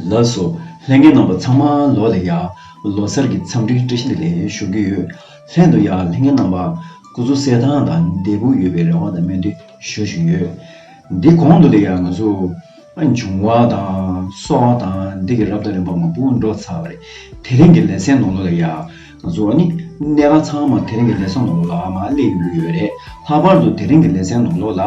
ལགས་སོ། ལྷན་རྒྱས་རྣམ་པ་ཚང་མ་ལོ་ལེགས་ཡ། ལོ་སར་གྱི་འཚམས་འདྲི་བཀྲ་ཤིས་བདེ་ལེགས་ཞུ་གི་ཡོད། ལྷན་དུ་ཡ་ལྷན་རྒྱས་རྣམ་པ་སྐུ་གཟུགས་གསལ་ཐང་དང་བདེ་པོ་ཡོད་པའི་རེ་བ་དང་སྨོན་འདུན་ཞུ་བཞིན་ཡོད། འདི་གོང་དུ་ལེགས་ཡ་ང་ཚོ་འབྱུང་བ་དང་སོགས་དང་འདི་གི་རབ་དང་རིམ་པ་མང་པོ་འགྲོ་ཚར་བ་རེད་དེ་རིང་གི་ལེ་ཚན་ནང་ལོ་ལེགས་ཡ་བཟོ་བ་ནི། གནས་ག་ཚང་མར་དེ་རིང་གི་ལེ་ཚན་ནོར་ལོག་ལ་མ་སླེབས་ཡོང་གི་ཡོད་རེད། ལྷག་པར་དུ་དེ་རིང་གི་ལེ་ཚན་ནོར་ལོག་ལ།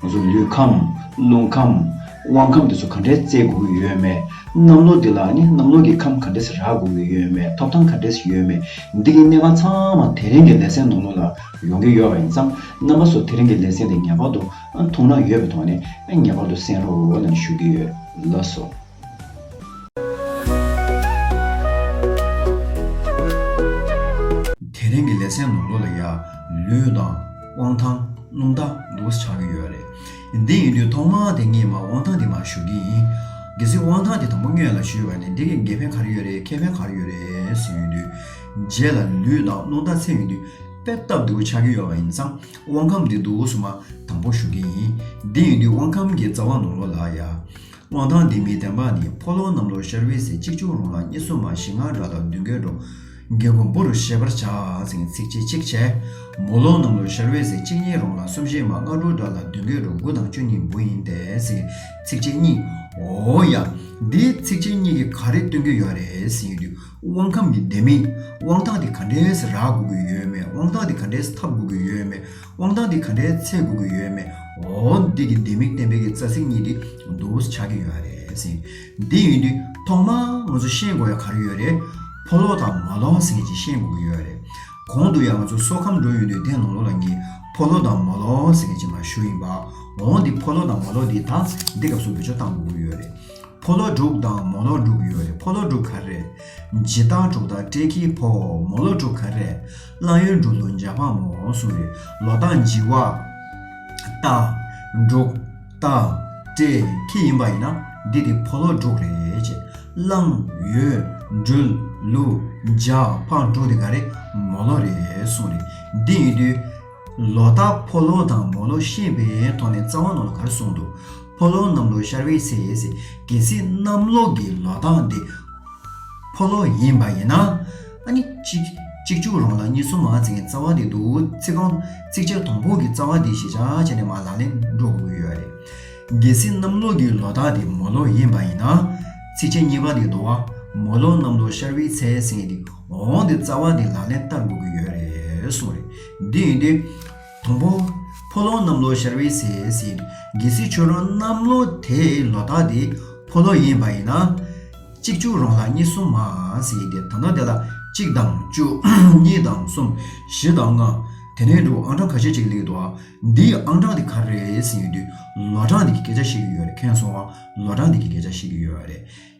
ང་ཚོ་ལུས་ཁམས། རླུང་ཁམས། དབང་ཁམས་དེ་ཚོ་ག་འདྲས་བརྩེ་དགོས་ཀྱི་ཡོད་མེད། གནམ་ལོ་འདི་ལ་ནི་གནམ་ལོ་གི་ཁམས་ག་འདྲས་རག་དགོས་ཀྱི་ཡོད་མེད་ཐོབ་ཐང་ག་འདྲས་ཡོད་མེད་འདི་གི་གནས་ག་ཚང་མ་དེ་རིང་གི་ལེ་ཚན་ནོར་ལོག་ལ་ཡོང་གི་ཡོད་པ་ཡིན་ཙང་རྣམ་པ་ཚོ་དེ་རིང་གི་ལེ་ཚན་དེ་ངེས་པར་དུ་མཐོང་ན་ཡོད་པའི་ཐོག་ནས་ངེས་པར་དུ་གསན་རོགས་ལ་ཞུ་གི་ཡོད་ལགས་སོ། དེ་རིང་གི་ལེ་ཚན་ནོར་ལུག་ལ་ཡ། ལུས་དང། དབང་ཐང། སྣུམ་རྟ། ལུགས་ཆགས་ཀྱི་ཡོད་རེད། འདི་ཡིན་དུས་ཐོག་མ་དེ་གཉིས་མ་དབང་ཐང་དེ་མར་བཞུགས་ཀྱི་ཡིན། གལ་སྲིད་དབང་ཐང་དེ་དང་པོ་སྨྱོས་ལ་བཞུས་པ་ནི་འདི་གི་འགལ་ཕན་ག་རེ་ཡོད་རེད་ཁེ་ཕན་ག་རེ་ཡོད་རེད་ཟེར་ཡོད་དུས། རྗེས་ལ་ལུས་དང་སྣུམ་རྟ་འཚེ་ཡོད་དུས་དཔེ་ལྟ་བསྡུར་ཆགས་ཀྱི་ཡོད་པ་ཡིན་ཙང་དབང་ཁམས་འདི་དུག་གསུམ་མ་དང་པོ་བཞུགས་ཀྱི་ཡིན། འདི་ཡིན་དུས་དབང་ཁམས་ཀྱི་རྩ་བ་ནོར་ལུག་ལ་ཡ། དབང་ཐང་འདི་མི་བདེན་པ་ནི་ཕོ་ལོང་རྣམས་ལོར་ཤར་བས་ཟེར་གཅིག་ཕྱུང་རུང་ལ་གཉིས་སོ་མ་བཞི་ལྔ་འགའ་དང་བདུན་འགའི་འགྲོ། རྒན་ཀོང་པོ་རུ་ཤེས་པར་བྱ། ཟེར་ཚིག་ཅིག་ཅིག་བྱས། མོ་ལོང་རྣམས་ལོར་ཤར་བས་ཟེར་གཅིག་གཉིས་རུང་ལ་གསུམ་བཞི་མ་ལྔ་དྲུག་འདྲ་ལ་བདུན་འགའི་འགྲོ་དགུ་དང་བཅུ་གཉིས་འབུ་ཡིན་ཏེ་ཟེར་ཚིག་ཅིག་གཉིས། འོ་ཡ། འདི་ཚིག་ཅིག་གཉིས་ཀྱིས་ག་རེ་སྟོན་གྱི་ཡོད་རེད་ཟེར་ཡོད་དུས་དབང་ཁམས་ནི་བདེན་མིན། དབང་ཐང་དེ་ག་འདྲས་སུ་རག་དགོས་ཀྱི་ཡོད་མེད་དབང་ཐང་དེ་ག་འདྲས་སུ་འཐབ་དགོས་ཀྱི་ཡོད་མེད། དབང་ཐང་འདི་ག་འདྲའི་ཚད་དགོས་ཀྱི་ཡོད་མེད། འོ་འདི་གི་ལྡེ་མིག་གཏན་འབེབས་ཀྱི་རྩ་ཚིག་གཉིས་འདི་བསྡུར་བོ་ཆགས་ཀྱི་ཡོད་རེད་ཟིན། འདི་ཡིན་དུས་ཐོག་མར་ང་ཚོ་ཤེས་དགོས་ཡ་ག་རེ་ཡོད་རེད། ཕོ་ལོག་དང་མ་ལོང་ཟེར་གྱི་ཤེས་དགོས་ཀྱི་ཡོད་རེད། གོང་དུ་ཡང་ང་ཚོ་སོ་ཁམས་འགྲོ་ཡོང་དུས་དེ་ལོང་ལོ་ལ་ངས་ཕོ་ལོག་དང་མོ་ལོག་ཟེར་གྱི་མ་ཞུ་ཡིན་པ། འོ་འདི་ཕོ་ལོག་དང་མོ་ལོག་འདི་དང་འདི་སྐབས་སུ་བེད་སྤྱོད་གཏང་དགོས་ཀྱི་ཡོད་རེད། ཕོ་ལོག་དྲུག་དང་མོ་ལོག་དྲུག་ཡོད་རེད་ཕོ་ལོག་དྲུག་ག་རེ་རེད། ཇི་ལྟར་གྲོགས་དང་སྤྲེལ་ཁྱིའི་ཕོ། མོ་ལོག་དྲུག་ག་རེ་རེད། གླང་ཡུལ་འབྲུག་མདོ་འཇའ་འཕང་མོ་འོང་གསུང་བའི་ལོ་ཏང་བགྱི་བ། ཏང། འབྲུག། ཏང། ཀྲེ། ཁྱི་ཡིན་པ་ཡིན་ན་འདི་དེ་ཕོ་ལོ་འབྲུག་རེད་ཅེས། གླང། ཡུལ། འབྲུལ། ལུ། འཇའ། འཕང་འབྲུག་དེ་ག་རེ། མོ་ལོ་རེད་གསུང་རེ། འདི་ཡིན་དུས། ལོ་ཏག་ཕོ་ལོ་དང་མོ་ལོ་ཤེས་པའི་ཐོག་ནས་རྩ་བ་ནང་ལོ་ག་རེ་གསུང་འདུག་ཕོ་ལོ་གནམ་ལོ་ཤར་བའི་ཚེ་ཡས་ཟེར་གལ་སྲིད་གནམ་ལོ་གི་ལོ་ཏང་དེ་ཕོ་ལོ་ཡིན་པ་ཡིན་ན། ཨ་ནི། གཅིག་བཅུག་རོང་ལ་གཉིས་གསུམ་མང་ཚིག་གི་རྩ་བ་འདི་འདུག་ཚིག་རྐང་ཚིག་ཆར་དང་པོ་གི་རྩ་བ་འདི་ཞེས་བྱ་བྱས་ནས་མ་ལག་ལེན་འགྲོ་དགོས་ཀྱི་ཡོད་རེད། གལ་སྲིད་གནམ་ལོ་གི་ལོ་རྟགས་འདི་མོ་ལོ་ཡིན་པ་ཡིན་ན། ཚིག་ཆ་གཉིས་པ་འདི་འདུག་བ་མོ་ལོ་གནམ་ལོ་ཤར་བུའི་ཚེས་ཟིན་འདི་འོང་འདི་རྩ་བ་འདི་ལག་ལེན་བསྟར་དགོས་ཀྱི་ཡོད་རེད་གསུངས་རེད། འདི་ཡིན་དུས། དང་པོ། ཕོ་ལོང་གནམ་ལོ་ཤར་བའི་སའི་ཟེར། གལ་སྲིད་ཁྱོད་རང་གནམ་ལོ་དེ་ལོ་དག་དེ་ཕོ་ལོ་ཡིན་པ་ཡིན་ན། གཅིག་བཅུ་རང་ལ་གཉིས་གསུམ་མ་ཟེར་དེ་ད་ནངས་དེ་ལ་གཅིག་དང་བཅུ། གཉིས་དང་གསུམ། བཞི་དང་ལྔ། དེ་ནས་འགྲོ་ཨང་གྲངས་ཁ་ཤས་གཅིག་ལེགས་འདུག་ཨ། འདི་ཡི་ཨང་གྲངས་དེ་ག་རེད་ཟེར་དུས། ལོ་གྲངས་འདི་གི་སྐད་ཆ་བཤད་ཀྱི་ཡོད་རེད་མཁན་ཚོ། ལོ་གྲངས་འདི་གི་སྐད་ཆ་བཤད་ཀྱི་ཡོད་རེད།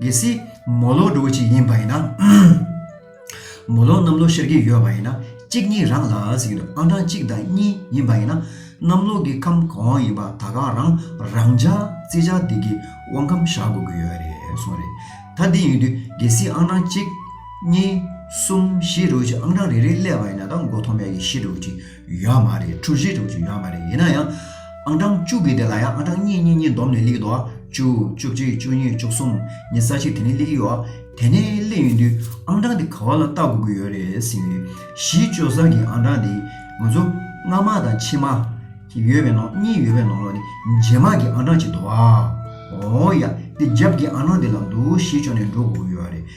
གལ་སྲིད་མོ་ལོག་འགྲོ་གི་ཅིག་ཡིན་པ་ཡིན་ན། མོ་ལོག་གནམ་ལོག་ཤར་གྱི་ཡོད་པ་ཡིན་ན། གཅིག་གཉིས་རང་ལ་ཟེར་གྱི་འདུག་ཨང་གྲངས་གཅིག་དང་གཉིས་ཡིན་པ་ཡིན་ན། གནམ་ལོག་གི་ཁམས་གང་ཡིན་པ་ད་ག་རང་རང་ཅག་རྩེ་ཆགས་སྡིག་གི་དབང་གམ་བཞག་དགོས་ཀྱི་ཡོད་རེད་གསུངས་རེད། ད་འདི་ཡིན་དུས་གལ་སྲིད་ཨང་གྲངས་གཅིག། གཉིས། གསུམ་བཞི་འགྲོ་གི་ཅིག་ཨང་གྲངས་རེ་རེ་སླེབས་པ་ཡིན་ན་ད་མགོ་ཐོག་མེད་ཀྱི་བཞི་འགྲོ་གི་ཅིག་ཡོད་མ་རེད་གྲུ་བཞི་དྲུག་ཅུ་ཡོད་མ་རེད་ཡིན་ན་ཡང་ཨང་གྲངས་བཅུ་གི་དེ་ལ་ཡང་ཨང་གྲངས་གཉིས་གཉིས་གཉིས་བསྡོམས་ནས་གླེགས་དོ་བཅུ་བཅུ་གཅིག་བཅུ་གཉིས་བཅུ་གསུམ་ཉི་ས་ཕྱེད་དེ་ནས་གླེགས་ཡོད་དེ་ནས་གླེགས་ཡོད་དུས་ཨང་གྲངས་དེ་ག་བ་ལ་བལྟ་དགོས་ཀྱི་ཡོད་རེད་ཟེར་གྱི་གཞི་བཅོལ་ས་གི་ཨང་གྲངས་དེ་ང་ཚོ་སྔ་མ་དང་ཕྱི་མ། ཡོད་པའི་ནང་གཉིས་ཡོད་པའི་ནང་ལོགས་ནས་རྗེས་མ་གི་ཨང་གྲངས་བྱེད་དོ་ཨ། འོ་ཡ་དེ་རྒྱབ་ཀྱི་ཨང་གྲངས་དེ་ལ་འདུག་གཞི་བཅོལ་ནས་འགྲོ་དགོས་ཀྱི་ཡོད་རེད།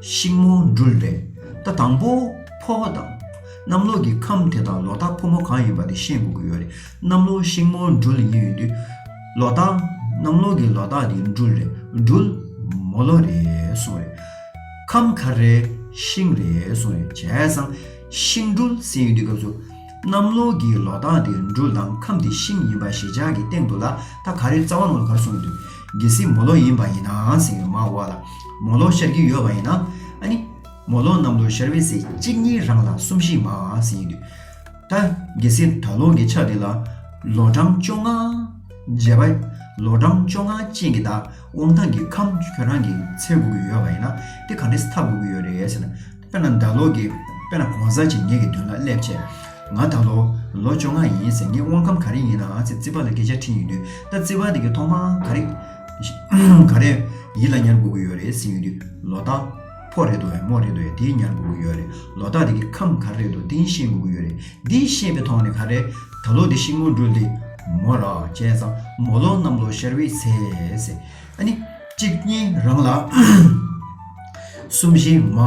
ཤིང་མོ་འདྲུལ་བས་རྟ་དང་པོ་འཕོ་བ་དང། གནམ་ལོ་གི་ཁམས་དེ་དང་ལོ་རྟགས་ཕོ་མོ་གང་ཡིན་པ་དེ་ཤེས་དགོས་ཀྱི་ཡོད་རེད། གནམ་ལོ་ཤིང་མོ་འདྲུལ་ཡིན་ཡོད་དུས། ལོ་རྟགས། གནམ་ལོ་གི་ལོ་རྟགས་དེ་འདྲུལ་རེད་འདྲུལ། མོ་ལོ་རེད་གསུངས་རེད། ཁམས་གར་རེད་ཤིང་རེད་གསུངས་རེད་བྱས་ཙང། ཤིང་འདྲུལ་ཟེར་ཡོད་དུས་སྐབས་སུ། གནམ་ལོ་གི་ལོ་རྟགས་དེ་འབྲུ་ལམ་ཁམས་དེ་ཤིང་ཡིན་པ་ཞེ་བཅག་གི་སྟེང་དུ་ལ་ད་ག་རེ་རྩ་བ་ནོར་གར་སོང་དུས་གལ་སྲིད་མོ་ལོ་ཡིན་པ་ཡིན་ནའང་ཟེར་བའི་མ་འོ་ལ་མོ་ལོ་ཤར་གྱི་ཡོད་པ་ཡིན་ན་ནི་མོ་ལོ་གནམ་ལོ་ཤར་བའི་ཚེས་གཅིག་གཉིས་རང་ལ་གསུམ་བཞི་མ་ཟེར་ཡིན་དུས་ད་གལ་སྲིད་ད་ལོ་གི་ཆ་དེ་ལ་ལོ་གྲངས་བཅོ་ལྔ། བརྒྱད་པ། ལོ་གྲངས་བཅོ་ལྔ་ཅན་གྱི་ད་དབང་ཐང་གི་ཁམས་ཁྱོད་རང་གི་འཚལ་དགོས་ཀྱི་ཡོད་པ་ཡིན་ན་དེ་ག་འདྲེས་འཐབ་དགོས་ཀྱི་ཡོད་རེད་ཟེར་ན། དཔེར་ན་ད་ལོ་གི་དཔེར་ན་གོང་གསལ་ཆེད་ངེས་ཀྱི་མདུན་ལ་སླེབས་ཆེད། ང་ད་ལོ་ལོ་བཅོ་ལྔ་ཡིན་ཟེར་ངས་དབང་ཁམས་ག་རེ་ཡིན་ནའང་ཚེ་བརྩི་བ་ལ་སྐད་ཆ་འཕྲིན་ཡོང་དུས་ད་བརྩི་བ་དེ་གའི་ཐོག་མ་ག་རེ་ག་རེ་ཡིད་ལ་ཉར་དགོས་ཀྱི་ཡོད་རེད་ཟེར་ཡོང་དུས་ལོ་རྟགས་ཕོ་རེད་དོ་འི་མོ་རེད་དོ་འི་དེ་ཉར་དགོས་ཀྱི་ཡོད་རེད་ལོ་རྟགས་དེ་གའི་ཁམས་ག་རེ་རེད་དོ་དེ་ཤེས་དགོས་ཀྱི་ཡོད་རེད་འདི་ཤེས་པའི་ཐོག་ནས་ག་རེ་ད་ལོ་འདི་ཤིང་མོ་འབྲུ་འདི་མོ་རག་བྱས་ཙང་མོ་ལོ་གནམ་ལོ་ཤར་བའི་ཚེས། ཨ་ནི། གཅིག་གཉིས་རང་ལ། གསུམ་བཞི་མ།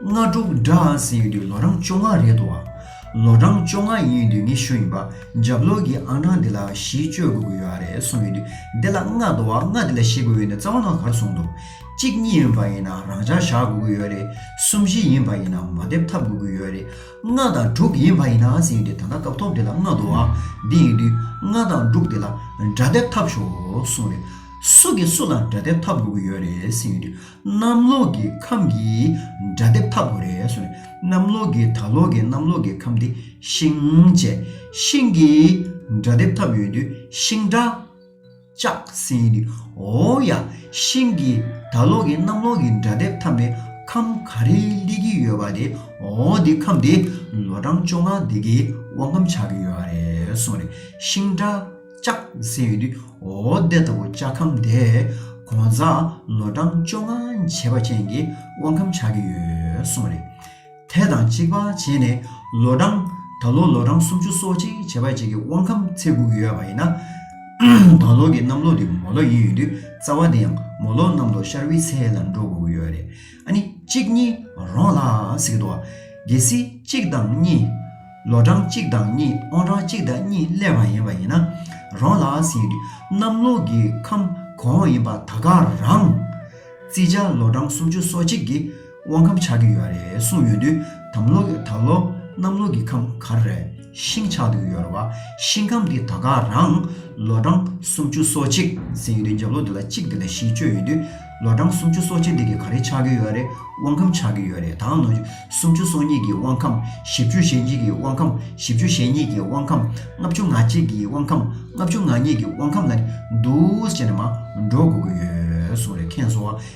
ལྔ་དྲུག་འདྲ་ཨང་ཟེར་ཡོད་དུས་ལོ་རང་བཅོ་ལྔ་རེད་དོ། ལོ་རང་བཅོ་ལྔ་ཡིན་ཡོད་དུས་ངས་ཞུ་ཡིན་པ་འཇབ་ལོག་གི་ཨང་གྲངས་འདི་ལ་བཞི་བཅོ་དགོས་ཀྱི་ཡོད་ཨ་རེད་གསུངས་ཡོད་དུས་འདི་ལ་ལྔ་དོ་བ་ལྔ་འདི་ལ་བཞི་དགོས་ཡོད་ནི་རྩ་བ་ནང་གར་གསུངས་འདུག་གཅིག་གཉིས་ཡིན་པ་ཡིན་ན་རང་འཇག་བཞག་དགོས་ཀྱི་ཡོད་རེད་གསུམ་བཞི་ཡིན་པ་ཡིན་ན་མ་སྡེབ་ཐབས་དགོས་ཀྱི་ཡོད་རེད། སྔགས་དང་དྲུག་ཡིན་བ་ཡིན་ནའང་ཟིན་ཡོད་དེ་ད་ལྟ་སྐབས་ཐོག་འདི་ལ་སྔགས་འདུ་བའང་འདི་ཡིན་དུས་སྔགས་དང་དྲུག་དེ་ལ་སྒྲ་སྡེབ་ཐབས་ཞོག་གསུངས་རེད། སུ་གིས་སུ་ལ་སྒྲ་སྡེབ་ཐབས་དགོས་ཀྱི་ཡོད་རེད་ཟིན་ཡོད་དུས་གནམ་ལོག་གི་ཁམས་ཀྱི་སྒྲ་སྡེབ་ཐབས་དགོས་རེད་གསུངས་རེད། གནམ་ལོག་གི་ད་ལོག་གི་གནམ་ལོག་གི་ཁམས་དེ་ཤིང་བཅས་ཤིང་གི་སྒྲ་སྡེབ་ཐབས་ཡོད་དུས་ཤིང་སྒྲ། ལྕགས་སྲིན་གྱི་འོ་ཡ་ཤིང་གི་ད་ལོག་གི་གནམ་ལོག་གི་འདྲ་དེབ་འཐམ་པའི་ཁམས་ག་རེ་སླེ་གི་ཡོད་པ་དེ་འོ་དེ་ཁམས་དེ་ལོ་གྲངས་བཅོ་ལྔ་དེ་གི་དབང་ཁམས་ཆགས་ཀྱི་ཡོད་པ་རེད་གསུངས་རེད་ཤིང་སྒྲ་ལྕགས་སྲིན་གྱི་འོ་དེ་ལྟ་བུ་ལྕགས་ཁམས་དེ་གོང་གཟའ་ལོ་གྲངས་བཅོ་ལྔ་བྱེད་པ་ཅན་གྱི་དབང་ཁམས་ཆགས་ཀྱི་ཡོད་གསུངས་རེད། དེ་དང་གཅིག་པ་བྱས་ནས་ལོ་གྲངས། ད་ལོ་ལོ་གྲངས་སུམ་ཅུ་སོ་གཅིག་བྱེ་བ་གཅིག་གི་དབང་ཁམས་ཚེ་འགུགས་ཡོད་པ་ཡིན་ན། ད་ལོ་གི་གནམ་ལོ་དེ་མོ་ལོ་ཡིན་ཡོད་དུས་རྩ་བ་དེ་ཡང་མོ་ལོ་གནམ་ལོ་ཤར་བུའི་ཚེས་ལ་འགྲོ་དགོས་ཀྱི་ཡོད་རེད་ཨ་ནི་གཅིག་གཉིས་རོང་ལ་ཟིག་འདུག་ཨ། གལ་སྲིད་གཅིག་དང་གཉིས། ལོ་གྲངས་གཅིག་དང་གཉིས་དབང་གྲངས་གཅིག་དང་གཉིས་སླེབས་པ་ཡིན་པ་ཡིན་ན། རོང་ལ་ཟིན་དུས་གནམ་ལོ་གི་ཁམས་གོང་ཡིན་པ་ད་ག་རང། བརྩི་བྱ་ལོ་གྲངས་སུམ་ཅུ་སོ་གཅིག་གི། དབང་ཁམས་ཆགས་ཀྱི་ཡོད་རེད་གསུངས་ཡོད་དུས་དམ་ལོག་ད་ལོ་གནམ་ལོག་གི་ཁམས་གར་རེ་ཤིང་ཆགས་འདུག་ཡོད་རེད་བ་ཤིང་ཁམས་འདི་ད་ག་རང་ལོ་གྲངས་སུམ་ཅུ་སོ་གཅིག་ཟིན་ཡོད་དུས་འཇབ་ལོ་འདི་ལ་གཅིག་འདི་ལ་བཞི་བཅོས་ཡོད་དུས་ལོ་གྲངས་སུམ་ཅུ་སོ་གཅིག་འདི་གི་ག་རེ་ཆགས་ཀྱི་ཡོད་རེད་དབང་ཁམས་ཆགས་ཀྱི་ཡོད་རེད་ད་ནོ་སུམ་ཅུ་སོ་གཉིས་ཀྱི་དབང་ཁམས་བཞི་བཅུ་ཞེ་གཉིས་ཀྱི་དབང་ཁམས་བཞི་བཅུ་ཞེ་གཉིས་ཀྱི་དབང་ཁམས་ལྔ་བཅུ་ང་གཅིག་གི་དབང་ཁམས་ལྔ་བཅུ་ང་གཉིས་ཀྱི་དབང་ཁམས་ལ་ནི་འདུག་ཅེས་ནས་མ་འགྲོ་དགོས་ཀྱི་ཡོད་གསུངས་རེད་མཁན་ཚོ་བ་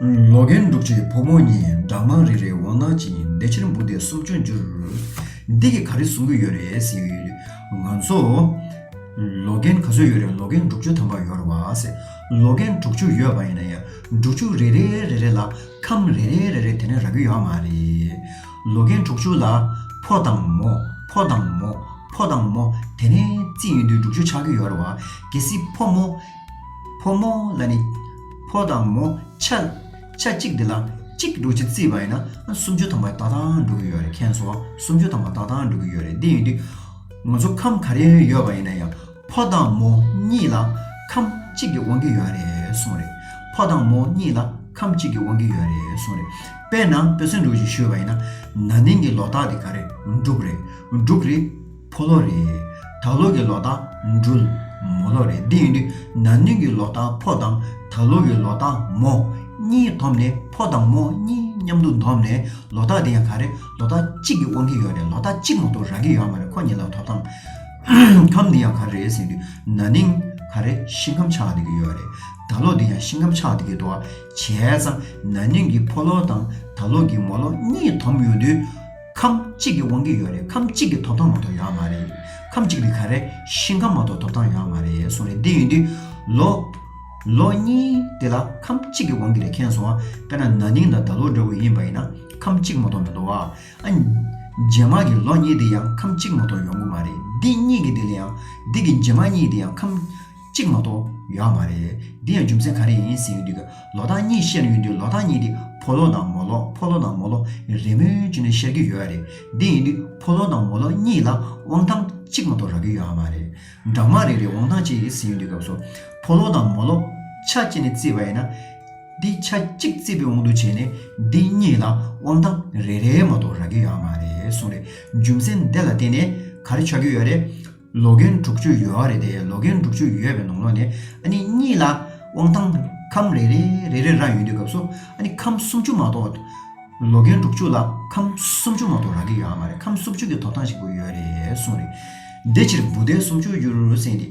ལོ་རྒན་འབྲུག་ཆུའི་བུ་མོ་གཉིས་སྦྲང་མང་རེ་རེ་འོང་སྣང་ཅིང་བདེ་ཕྱིར་འབུ་དེ་གསོབ་ཅུང་འགྱུར། འདི་གིས་ག་རེ་གསུང་གི་ཡོད་རེད་ཟེར། ང་ཚོ། ལོ་རྒན་ག་ཚོད་ཡོད་རེད་ལོ་རྒན་འབྲུག་ཆུ་དམ་པ་ཡོད་རེད་བ། ལོ་རྒན་འབྲུག་ཆུ་ཡོད་པ་ཡིན་ན་ཡང་འབྲུག་ཆུ་རེ་རེ་རེ་རེ་ལ་ཁམས་རེ་རེ་རེ་རེ་དེ་ནས་རག་གི་ཡོད་མ་རེད། ལོ་རྒན་འབྲུག་ཆུ་ལ་ཕོ་དང་མོ་ཕོ་དང་མོ་ཕོ་དང་མོ་དེ་ནས་རྩིས་ཡིན་དུས་འབྲུག་ཆུ་ཆགས་ཀྱི་ཡོད་རེད་བ། གལ་སྲིད་ཕོ་མོ། ཕོ་མོ་ལ་ནི། ཕོ་དང་མོ་ཆ། ཆ་གཅིག་འདི་ལ་གཅིག་གི་འགྲོ་བྱེད་རྩིས་པ་ཡིན་ན་སུམ་ཅུ་ཐམ་པ་ཏག་ཏག་འགྲོ་གི་ཡོད་རེད་མཁན་ཚོ་སུམ་ཅུ་ཐམ་པ་ཏག་ཏག་འགྲོ་གི་ཡོད་རེད་འདི་ཡིན་དུས་ང་ཚོ་ཁམས་ག་རེ་ཡོད་པ་ཡིན་ན་ཡང་ཕོ་དང་མོ་གཉིས་ལ་ཁམས་གཅིག་གི་དབང་གི་ཡོད་རེད་གསུངས་རེད་ཕོ་དང་མོ་གཉིས་ལ་ཁམས་གཅིག་གི་དབང་གི་ཡོད་རེད་གསུངས་རེད་དཔེར་ན་བོད་ཟེར་འབྲུག་ཅིག་ཞུས་པ་ཡིན་ན་ན་ནིང་གི་ལོ་རྟགས་དེ་ག་རེ་འབྲུག་རེད་འབྲུག་རེད། ཕོ་ལོ་རེད། ད་ལོ་གི་ལོ་ཏང་འབྲུལ། མོ་ལོ་རེད། འདི་ཡིན་དུས་ན་ནིང་གི་ལོ་ཏང་ཕོ་དང་ད་ལོ་གི་ལོ་ཏང་མོ། གཉིས་འཐོམ་ནས་ཕོ་དང་མོ་གཉིས་མཉམ་དུ་འཐོམ་ནས་ལོ་ཏག་དེ་ཡང་ག་རེ་ལོ་ཏག་གཅིག་གི་དབང་གིས་ཡོད་རེད་ལོ་ཏག་གཅིག་མ་གཏོགས་རག་གི་ཡོད་མ་རེད་ཁོ་གཉིས་ལ་ཐོབ་ཐང་ཁམས་འདི་ཡང་ག་རེ་རེད་ཟེར་དུས་ན་ནིང་ག་རེ་ཤིང་ཁམས་ཆགས་བསྡད་ཀྱི་ཡོད་རེད་ད་ལོ་འདི་ཡང་ཤིང་ཁམས་ཆགས་བསྡད་ཀྱི་འདུག་བྱས་ཙང་ན་ནིང་གི་ཕོ་ལོ་དང་ད་ལོ་གི་མོ་ལོ་གཉིས་འཐོམ་ཡོང་དུས། ཁམས་གཅིག་གི་དབང་གིས་ཡོད་རེད་ཁམས་གཅིག་གི་ཐོབ་ཐང་མ་གཏོགས་ཡོད་མ་རེད། ཁམས་གཅིག་རིགས་ག་རེ་ཞིང་ཁམས་མ་གཏོགས་ཐོབ་ཐང་ཡོད་མ་རེད་གསུངས་རེད་འདི་ཡིན་དུས། ལོ། ལོ་གཉིས། དེ་ལ་ཁམས་གཅིག་གི་དབང་གིས་རེད་མཁྱེན་སོང་ཨ། དཔེར་ན་ན་ནིང་དང་ད་ལོ་འདྲ་བོ་ཡིན་པ་ཡིན་ན་ཁམས་གཅིག་མ་གཏོགས་མི་འདུག་ཨ། རྗེས་མ་གི་ལོ་གཉིས་དེ་ཡང་ཁམས་གཅིག་མ་གཏོགས་ཡོང་གི་མ་རེད་འདི་གཉིས་ཀྱི་དེ་ལ་ཡང་འདི་གི་རྗེས་མ་གཉིས་དེ་ཡང་ཁམས། གཅིག་མ་གཏོགས་ཡོད་མ་རེད། འདི་ཡང་རྒྱུ་མཚན་ག་རེ་ཡིན་ཟེར་ཡོད་དུས་ལོ་རྟགས་གཉིས་བཤད་ཡོད་དུས་ལོ་རྟགས་གཉིས་དེ་ཕོ་ལོ་དང་མོ་ལོ་ཕོ་ལོ་དང་མོ་ལོ་རེད་མོད་ཅེས་ནས་བཤད་ཀྱི་ཡོད་རེད། འདི་ཡིན་དུས་ཕོ་ལོ་དང་མོ་ལོ་གཉིས་ལ་དབང་ཐང་གཅིག་མ་གཏོགས་རག་གི་ཡོད་མ་རེད། འདྲ་མ་རེད་རེད་དབང་ཐང་གཅིག་རེད་ཟེར་ཡོད་དུས་སྐབས་སུ་ཕོ་ལོ་དང་མོ་ལོ་ཆ་གཅིག་ནས་བརྩིས་པ་ཡིན་ན། འདི་ཆ་གཅིག་བརྩིས་པའི་དབང་དུ་བྱས་ནས་འདི་གཉིས་ལ་དབང་ཐང་རེ་རེ་མ་གཏོགས་རག་གི་ཡོད་མ་རེད་གསུངས་རེད། རྒྱུ་མཚན་འདི་ལ་བརྟེན་ནས་ག་རེ་ཆགས་ཀྱི་ཡོད་རེད། ལོ་རྒན་དྲུག་ཅུ་ཡོལ་བ་རེད་དེ་ལོ་རྒན་དྲུག་ཅུ་ཡོལ་བའི་ནང་ལོགས་ནས་ཨ་ནི་གཉིས་ལ་དབང་ཐང་ཁམས་རེ་རེ་རེ་རེ་རག་ཡོད་དུས་སྐབས་སུ་ཨ་ནི་ཁམས་སུམ་ཅུ་མ་གཏོགས། ལོ་རྒན་དྲུག་ཅུ་ལ་ཁམས་སུམ་ཅུ་མ་གཏོགས་རག་གི་ཡོད་ཨ་མ་རེད་ཁམས་སུམ་ཅུ་གི་ཐོབ་ཐང་ཞིག་བུ་ཡོད་རེད་གསུངས་རེད། དེ་ཕྱིར་བུ་དེ་སུམ་ཅུ་རྒྱུར་བསྲིངས་ཏེ་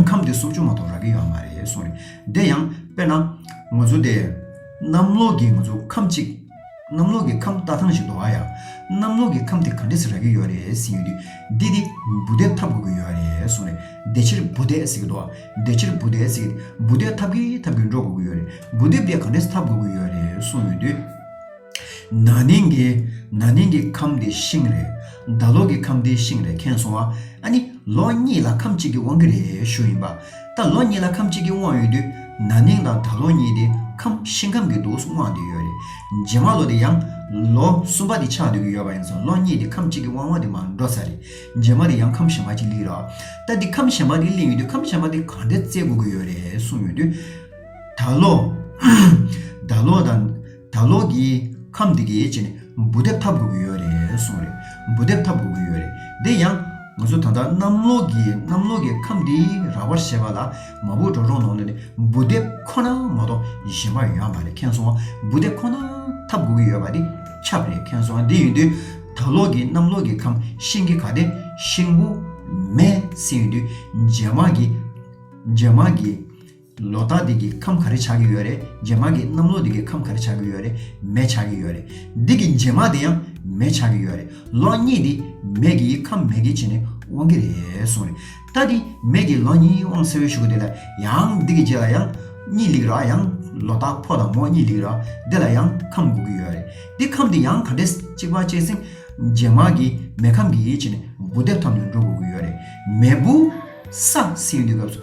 ཁམས་དེ་སུམ་ཅུ་མ་གཏོགས་རག་གི་ཡོད་ཨ་མ་རེད་གསུངས་རེད། དེ་ཡང་དཔེར་ན། ང་ཚོ་དེ། གནམ་ལོགས་ཀྱི་ང་ཚོ་ཁམས་གཅིག། གནམ་ལོག་གི་ཁམས་རྟ་ཐང་ཞིག་འདུག་ཨ་ཡ། གནམ་ལོག་གི་ཁམས་དེ་ག་འདྲེ་ཟེར་ར་གི་ཡོད་རེད་ཟེར་ཡོད་དུས། འདི་འདི། འབུ་རྡེག་འཐབ་དགོས་ཀྱི་ཡོད་རེད་གསུངས་རེད། བདེ་ཕྱིར་འབུ་རྡེག་ཟེར་གྱི་འདུག་བདེ་ཕྱིར་འབུ་རྡེག་ཟེར་གྱི་འདུག་འབུ་རྡེག་འཐབ་གི་འཐབ་གི་འགྲོ་དགོས་ཀྱི་ཡོད་རེད། འབུ་རྡེག་འདི་ག་འདྲེ་འཐབ་དགོས་ཀྱི་ཡོད་རེད་གསུངས་ཡོད་དུས། ན་ནིང་གི། ན་ནིང་གི་ཁམས་དེ་ཤིང་རེད། ཟླ་ལོག་གི་ཁམས་དེ་ཤིང་རེད་མཁྱེན་སོང་ཨ། ཨ་ནི། ལོ་གཉིས་ལ་ཁམས་གཅིག་གི་དབང་གིས་རེད་ཞུ་ཡིན་པ། ད་ལོ་གཉིས་ལ་ཁམས་གཅིག་གི་དབང་ཡོད་དུས་ན་ནིང་དང་ད་ལོ་གཉིས་དེ་ཁམས་ཤིང་ཁམས་ཀྱི་དུག་དབང་དེ་ཡོད་རེད་རྗེས་མ་ལོ་དེ་ཡང་ལོ་གསུམ་པ་དེ་ཆགས་སྡོད་ཀྱི་ཡོད་པ་ཡིན་ཙང་ལོ་གཉིས་དེ་ཁམས་གཅིག་གི་དབང་བ་དེ་མ་འགྲོ་ས་རེད་རྗེས་མ་དེ་ཡང་ཁམས་གཞན་པ་གཅིག་གླིང་རོགས་ད་དེ་ཁམས་གཞན་པ་དེ་གླིང་ཡོད་དུས་ཁམས་གཞན་པ་དེ་གང་འདྲ་བཙལ་དགོས་ཀྱི་ཡོད་རེད་གསུངས་ཡོད་དུས་ད་ལོ་ད་ལོ་དང། ད་ལོག་གི་ཁམས་འདི་གི་ཡིད་ཆེས་ནི་འབུ་རྡེབ་འཐབ་དགོས་ཀྱི་ཡོད་རེད་གསུངས་རེད། འབུ་རྡེབ་འཐབ་དགོས་ཀྱི་ཡོད་རེད་དེ་ཡང། ང་ཚོ་ད་ལྟ་གནམ་ལོག་གི་གནམ་ལོག་གི་ཁམས་འདི་ར་བར་བྱེད་པ་ལ་མ་བུ་གྲོག་རོང་ནང་ནས་ནི་འབུ་རྡེབ་ཁོ་ན་མ་གཏོགས་གཞན་པ་ཡོད་མ་རེད་ཁེང་སོང་བ་འབུ་རྡེབ་ཁོ་ན་འཐབ་དགོས་ཀྱི་ཡོད་པ་འདི་ཁྱབ་རེད་ཁེང་སོང་བ་འདི་ཡིན་དུས་ད་ལོག་གི་གནམ་ལོག་གི་ཁམས་ཤིང་གི་ག་དེ་ཤིང་བུ། མེ། སྲིན་ཡོད་དུས་རྗེས་མར་གྱི། རྗེས་མར་གྱི། ལོ་རྟགས་འདི་གི་ཁམས་ག་རེ་ཆགས་ཀྱི་ཡོད་རེད་རྗེས་མར་གྱི་གནམ་ལོ་འདི་གི་ཁམས་ག་རེ་ཆགས་ཀྱི་ཡོད་རེད་མེ་ཆགས་ཀྱི་ཡོད་རེད་འདི་གི་རྗེས་མར་འདི་ཡང་མེ་ཆགས་ཀྱི་ཡོད་རེད་ལོ་གཉིས་འདི་མེ་གི་ཡི་ཁམས་མེ་གི་བྱེད་ནས་དབང་གི་རེད་གསུངས་རེད་ད་འདི་མེ་གི་ལོ་གཉིས་དབང་གསལ་བོའི་ཞུ་གི་འདི་ལ་ཡང་འདི་གི་རྗེས་ལ་ཡང་གཉིས་ལེགས་ར་ཡང་ལོ་རྟགས་ཕོ་དང་མོ་གཉིས་ལེགས་ར་འདི་ལ་ཡང་ཁམས་འགུག་གི་ཡོད་རེད་འདི་ཁམས་འདི་ཡང་ག་འདྲེས་གཅིག་པ་གཅིག་ཟིང་རྗེས་མར་གྱི་མེ་ཁམས་ཀྱི་ཡི་བྱེད་ནས་འབུ་རྡེབ་ཐོབ་ནས་འགྲོ་དགོས་ཀྱི་ཡོད་རེད་མེ་འབུ་ས་སྲིན་འདི་སྐབས་སུ།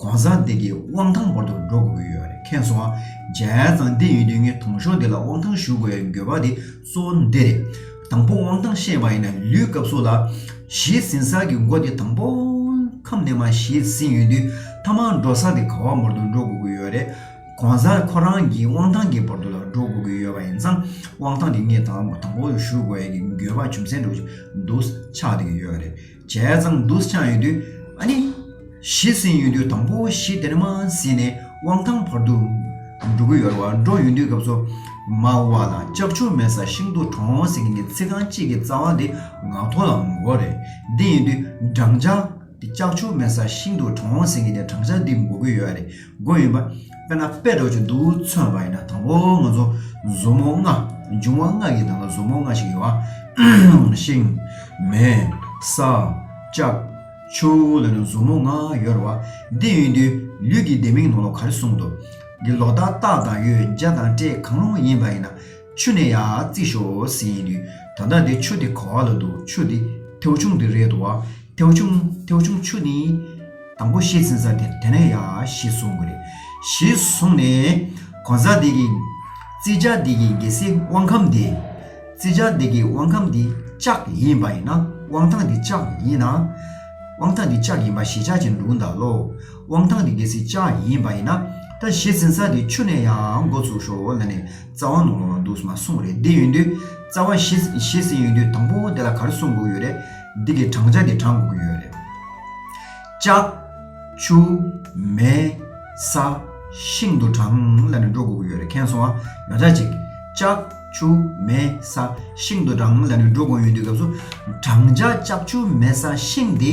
གོང་ས་འདི་གི་དབང་ཐང་བོར་དུ་འགྲོ་དགོས་ཀྱི་ཡོད་རེད་ཁེངས་སོང་རྒྱལ་བཙང་འདི་ཡོད་དུས་ངས་དུང་ཞོ་འདི་ལ་དབང་ཐང་ཞུ་དགོས་ཡ་འགྱོད་པ་དེ་གཙོ་བོ་འདི་རེད། དང་པོ་དབང་ཐང་བཤད་པ་ཡིན་ན་ལུས་སྐབས་སུ་ལ་བཞེས་ཟིན་ས་གི་མགོ་དེ་དང་པོ་ཁམས་ནས་མ་བཞེས་ཟིན་ཡོད་དུས་ཐ་མང་འགྲོ་ས་དེ་ག་བ་བོར་དུ་འགྲོ་དགོས་ཀྱི་ཡོད་རེད། གོང་ས་ཁོ་རང་གི་དབང་ཐང་གི་བོར་དུ་ལ་འགྲོ་དགོས་ཀྱི་ཡོད་པ་ཡིན་ཙང་དབང་ཐང་དེ་ངས་དང་པོ་ཞུ་དགོས་ཡ་གྱི་འགྱོད་པ་ཅུང་ཟད་འགྲོ་གྱི་འདུག་ཆགས་འདི་གི་ཡོད་རེད། བྱས་ཙང་བསྡུ་ཆ་ཡོད་དུས་ཨ་ནི། བཞི་ཟིན་ཡོད་དུས་དང་པོ་བཞི་དེར་མ་ཟིན་ནས་དབང་ཐང་བར་དུ་འགྲོ་གི་ཡོད་རེད་བ་འགྲོ་ཡོད་དུས་སྐབས་སུ། མ་དབུ་བ་དང་ལྕགས་ཆུ་མེད་ས་ཤིང་དུ་གྲོང་ཟེ་གིང་གི་ཚིག་རྐང་གཅིག་གི་རྩ་བ་འདི་ངག་ཐོག་ལ་ངོ་རྒོལ་རེད་འདི་ཡིན་དུས་བགྲང་བྱ། ལྕགས་ཆུ་མེད་ས་ཤིང་དུ་གྲོང་ཟེ་གིང་གི་བགྲང་བྱ་འདི་འགོ་གི་ཡོད་རེད། དགོས་ཡོད་པ། དཔེར་ན་དཔེ་སྒྲོག་ཅིང་འདུག་མཚོན་པ་ཡིན་ན་དང་པོ་ང་ཚོ་མཛུབ་མོ་ལྔ། འབྱུང་བ་ལྔ་ཡི་ནང་ལ་མཛུབ་མོ་ལྔ་ཞིག་ཡོད་པ། ཤིང། མེ། ས། ལྕགས། ཆུ། ལ་ནི་མཛུབ་མོ་ལྔ་ཡོད་རེད་བ། འདི་ཡིན་དུས་ལུས་ཀྱི་ལྡེ་མིག་ནང་ལ་ག་རེ་གསུངས་འདུག་གི་ལོག་ལྟ་རྟགས་དང་ཡོད་བྱ་དང་སྤྲད་གང་རུང་ཡིན་པ་ཡིན་ན། ཆུ་ནས་ཡར་བརྩིས་ཤོག་ཟེར་ཡིན་དུས་ད་ལྟ་འདི་ཆུ་དེ་ག་ལ་འདུག་ཆུ་དེ་མཐེའུ་ཆུང་དེ་རེད་འདུག་བ། མཐེའུ་ཆུང་མཐེའུ་ཆུང་ཆུ་ནི། དང་པོ་ཤེས་ཟིན་ས་དེ་དེ་ནས་ཡར་ཞེས་གསུངས་དགོས་རེད། ཞེས་གསུངས་ནས། གོང་ས་དེ་གི། བརྩི་བྱ་དེ་གི་རྒྱལ་སྲིད་དབང་ཁམས་དེ། བརྩི་བྱ་དེ་གི་དབང་ཁམས་དེ་ལྕགས་ཡིན་པ་ཡིན་ན་དབང་ཐང་དེ་ལྕགས་ཡིན་ན། དབང་ཐང་དེ་ལྕགས་ཡིན་པ་ཞེས་བྱ་ཅི་འདུག་འདའ་ལོ། དབང་ཐང་དེ་རྒྱལ་སྲིད་ལྕགས་ཡིན་པ་ཡིན་ན། ད་ཤེས་ཟིན་ས་དེ་ཆུ་ནས་ཡར་མགོ་བཙུགས་ཤོག་ལ་ནས། རྩ་བ་ནོར་བ་འདུག་མ་གསུངས་རེད་འདི་ཡོན་དུས་རྩ་བ་བཞི་ཟིན་ཡོན་དུས་དང་པོ་དེ་ལ་གར་གསུངས་དགོས་ཀྱི་རེད་འདི་གི་བགྲང་བྱ་འདི་བགྲང་དགོས་ཀྱི་ཡོད་རེད། ལྕགས། ཆུ། མེ། ས། ཤིང་དུ་བགྲང་ལ་ནི་འགྲོ་དགོས་ཀྱི་ཡོད་རེད་ཁེངས་སོང་ཨ། ཡོ་ཆ་གཅིག། ལྕགས། ཆུ། མེ། ས། ཤིང་དུ་བགྲང་ལ་ནི་འགྲོ་དགོས་ཡོན་དུས་སྐབས་སུ། བགྲང་བྱ་ལྕགས་ཆུ་མེ་ས་ཤིང་འདི།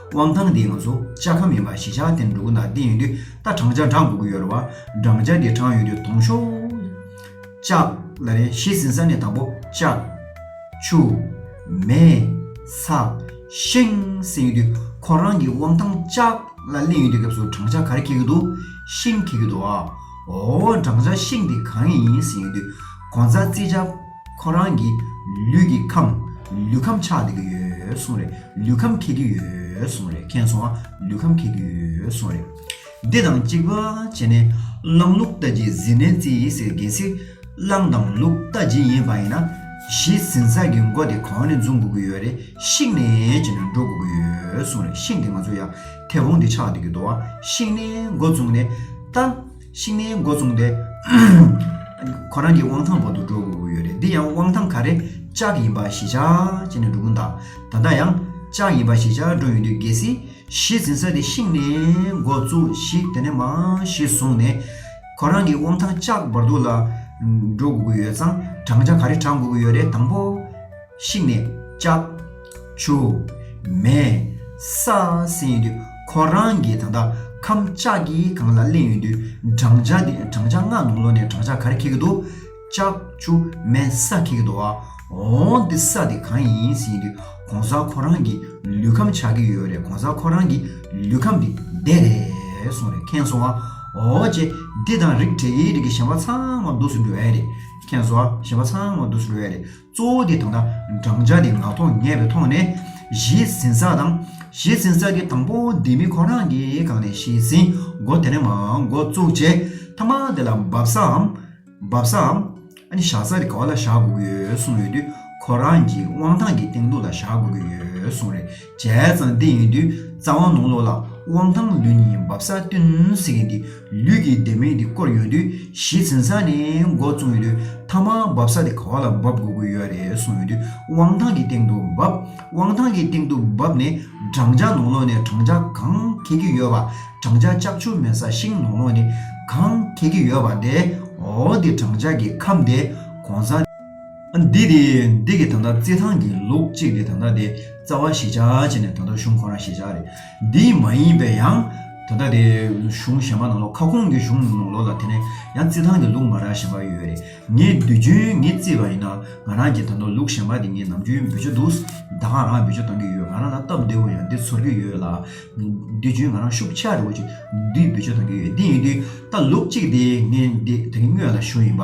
དབང་ཐང་འདི་ང་ཚོ་ལྕགས་ཁམས་ཡིན་པ་གཞིས་ཆགས་དེར་འགྲོ་གི་ན་དེ་ཡིན་དུས་ད་བགྲང་བྱ་བགྲང་དགོས་ཀྱི་ཡོད་རེད་བ་བགྲང་བྱ་དེ་བགྲང་ཡོད་དུས་དོང་ཤོག། ལྕགས། ལ་རེད་གཞིས་ཟིན་ས་ནས་དང་པོ་ལྕགས། ཆུ། མེ། ས། ཤིང་བསྲེས་ཡོད་དུས་ཁོ་རང་གི་དབང་ཐང་ལྕགས། ལ་གླེང་ཡོད་དུས་སྐབས་སུ་བགྲང་བྱ་ག་རེ་འཁེལ་གྱི་འདུག་ཤིང་འཁེལ་གྱི་འདུག་ཨ། འོ། བགྲང་བྱ་ཤིང་དེ་གང་ཡིན་ཟེར་ཡོད་དུས་གོང་ས་ཙི་ལྕགས། ཁོ་རང་གིས་ལུས་ཀྱི་ཁམས་ལུས་ཁམས་ཆགས་བསྡད་ཀྱི་ཡོད་གསུངས་རེད་ལུས་ཁམས་ཁེགས་ཀྱི་ཡོད་གསུངས་རེད་མཁྱེན་སོང་ཨ་ལུས་ཁམས་ཁེགས་ཀྱི་ཡོད་གསུངས་རེད། འདི་དང་གཅིག་པ་བྱས་ནས་གླང་ལུག་རྟ་རྗེས་ཟིན་ནས་རྩིས་ཡིན་ཟེར་གལ་སྲིད་གླང་དང་ལུག་རྟ་རྗེ་ཡིན་པ་ཡིན་ན་གཞི་ཟིན་ས་ཀྱི་མགོ་དེ་གོང་ནས་འཛུགས་དགོས་ཀྱི་ཡོད་རེད་ཤིག་ནས་བྱས་ནས་འགྲོ་དགོས་ཀྱི་ཡོད་གསུངས་རེད་ཤིང་དེ་ང་ཚོ་ཡ་ཐེ་བོང་དེ་ཆགས་བསྡད་ཀྱི་འདུག་ཨ་ཤིང་ནས་མགོ་བཙུགས་ནས་རྟ། ཤིང་ནི་མགོ་བཙུགས་ཏེ། ཁོ་རང་གི་དབང་ཐང་འོག་ཏུ་འགྲོ་དགོས་ཀྱི་ཡོད་རེད་འདི་ཡང་དབང་ཐང་ག་རེ་ལྕགས་ཡིན་པ་ཞི་ཆགས་བྱས་ནས་འགྲོ་གིན་གདའ། ད་ལྟ་ཡང་ལྕགས་ཡིན་པ་ཞི་ཆགས་འགྲོ་ཡོང་དུས་གལ་སྲིད་གཞི་འཛིན་ས་དེ་ཤིང་ནི་མགོ་བཙུགས་ཤིག་དེ་ནས་མ་གཞི་བཟུང་ནས། ཁོ་རང་གི་དབང་ཐང་ལྕགས་འབར་དུ་ལ་འགྲོ་དགོས་ཀྱི་ཡོད་ཙང་བགྲང་བྱ་ག་རེ་བགྲང་དགོས་ཀྱི་ཡོད་རེད་དང་པོ། བཤིག་ནས་ལྕགས། ཆུ། མེ། ས། བསྲེས་ཡོད་དུས་ཁོ་རང་གིས་ད་ལྟ་ཁམས་ལྕགས་ཀྱི་གངས་ལ་གླན་ཡོད་དུས་བགྲང་བྱ་དེ་བགྲང་བྱ་ལྔ་ནང་ལོ་ནས་བགྲང་བྱ་ག་རེ་འཁེལ་གི་འདུག་ལྕགས། ཆུ། མེ། ས་འཁེལ་གི་འདུག་ཨ། འོ། འདི་ས་དེ་གང་ཡིན་ཟེར་ཡོད་དུས་གོང་ས་ཁོ་རང་གིས་ལུས་ཁམས་ཆགས་ཀྱི་ཡོད་རེད་གོང་ས་ཁོ་རང་གིས་ལུས་ཁམས་དེ་བདེ་རེད་གསུངས་རེད་མཁྱེན་སོང་ཨ། འོ། ཅེ། འདི་དང་རིགས་བྲལ་གྱི་རིགས་ཀྱི་གཞན་པ་ཚང་མ་སྡུག་སུ་འགྲོ་ཡ་རེད་མཁྱེན་སོང་ཨ་གཞན་པ་ཚང་མ་སྡུག་སུ་འགྲོ་ཡ་རེད། གཙོ་བོ་དེ་དང་ན་བགྲང་བྱ་དེ་ངག་ཐོག་ངེས་པའི་ཐོག་ནས་གཞི་ཟིན་ས་དང། གཞི་ཟིན་ས་དེ་དང་པོ་དེ་མི་ཁོ་རང་གིས་གང་ནས་གཞི་ཟིན་མགོ་དེ་ནས་མ་མགོ་བཙུགས་རྗེས་ཐ་མག་དེ་ལ་འབབ་སའམ། བབས་སའམ། ཨ་ནི་བཞག་ས་དེ་ག་བ་ལ་བཞག་དགོས་ཀྱི་ཡོད་གསུངས་ཡོད་དུས་ཁོ་རང་གིས་དབང་ཐང་གི་སྟེང་དུ་ལ་བཞག་དགོས་ཀྱི་ཡོད་གསུངས་རེད། བྱས་ཙང་བདེ་ཡིན་དུས་རྩ་བ་ནོར་ལོག་ལ་དབང་ཐང་ལུས་ནི་འབབ་ས་སྟོན་ཟེར་མཁན་དེ་ལུས་ཀྱི་བདེ་མེད་དེ་བསྐོར་ཡོང་དུས་གཞི་འཛིན་ས་ནས་མགོ་བཙུགས་ཡོང་དུས་མཐའ་མ་འབབ་ས་དེ་ག་བ་ལ་འབབ་དགོས་ཀྱི་ཡོད་རེད་གསུངས་ཡོང་དུས་དབང་ཐང་གི་སྟེང་དུ་འབབ་དབང་ཐང་གི་སྟེང་དུ་འབབ་ནས་བགྲང་བྱ་ནོར་ལོག་ནས་བགྲང་བྱ་གང་འཁེལ་གྱི་ཡོད་པ་བགྲང་བྱ་ལྕགས་ཆུ་མེད་ས་ཞིང་ནོར་ལོག་ནས་གང་འཁེལ་གྱི་ཡོད་པ་དེ་འོ་དེ་བགྲང་བྱ་གི་ཁམས་དེ་གོང་ས། འདི་དེ་འདི་གི་ད་ལྟ་རྩེད་ཐང་གི་ལུག་གཅིག་དེ་ད་ལྟ་དེ་རྩ་བ་གཞི་ཆགས་བྱས་ནས་ད་ལྟ་གཞུང་ཁོ་རང་གཞི་ཆགས་རེད་འདི་མ་ཡིན་པའི་ཡང་ད་ལྟ་དེ་གཞུང་གཞན་པ་ནང་ལོག་ཁ་ཁོང་གི་གཞུང་ནང་ལོག་ལ་དེ་ནས་ཡང་རྩེད་ཐང་གི་ལུག་མ་རག་གཞན་པ་ཡོད་རེད་ངས་དུས་རྒྱུན་ངས་རྩེས་པ་ཡིན་ན་ང་རང་གི་ད་ནོར་ལུག་གཞན་པ་དེ་ངས་ནམ་རྒྱུན་འབུད་ཀྱི་འདུག་ཟླ་གང་རང་འབུད་ཀྱི་གཏོང་གི་ཡོད་ང་རང་ལ་སྟབས་བདེ་བོ་ཡང་འདི་ཚོར་གྱི་ཡོད་ལ་དུས་རྒྱུན་ང་རང་ཤུགས་ཆགས་རེ་བོ་ཅིག་འདི་འབུད་ཀྱི་གཏོང་གི་ཡོད་འདི་ཡིན་དུས་ད་ལུག་གཅིག་དེ་ངས་འདི་དེ་གི་སྔོན་ལ་ཞུ་ཡིན་པ།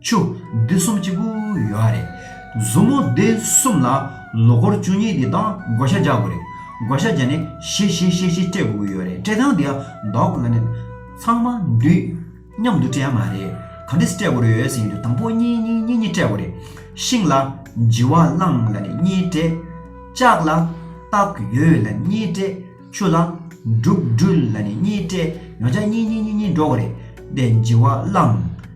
ཆུ་སྡེ་གསུམ་གཅིག་པུ་ཡོད་རེད། མཛུབ་མོ་སྡེ་གསུམ་ལ་ལོ་འཁོར་བཅུ་གཉིས་དེ་དག་བགོ་བཤའ་རྒྱག་དགོས་རེད། བགོ་བཤའ་རྒྱག་ནས་བཞི་བཞི་བཞི་བཞི་སྤྲད་དགོས་ཀྱི་ཡོད་རེད་སྤྲད་སྟངས་དེ་ལྡོག་དགོས་ཀྱི་མེད། ཚང་མ་འདུས་མཉམ་དུ་སྤྲད་ཡ་མ་རེད། ག་འདྲི་སྤྲད་དགོས་རེད་ཟེར་ཡོད་དུས་དང་པོ་གཉིས་གཉིས་གཉིས་གཉིས་སྤྲད་དགོས་རེད། ཤིང་ལ་བྱི་བ་བླངས་ལ་ནི་གཉིས་སྤྲད། ལྕགས་ལ་རྟགས་ཡོད་ལ་གཉིས་སྤྲད། ཆུ་ལ་འབྲུག་སྦྲུལ་ལ་ནི་གཉིས་སྤྲད་ཡོང་བྱ་གཉིས་གཉིས་གཉིས་གཉིས་འགྲོ་དགོས་རེད། དེ་བྱི་བ་བླངས།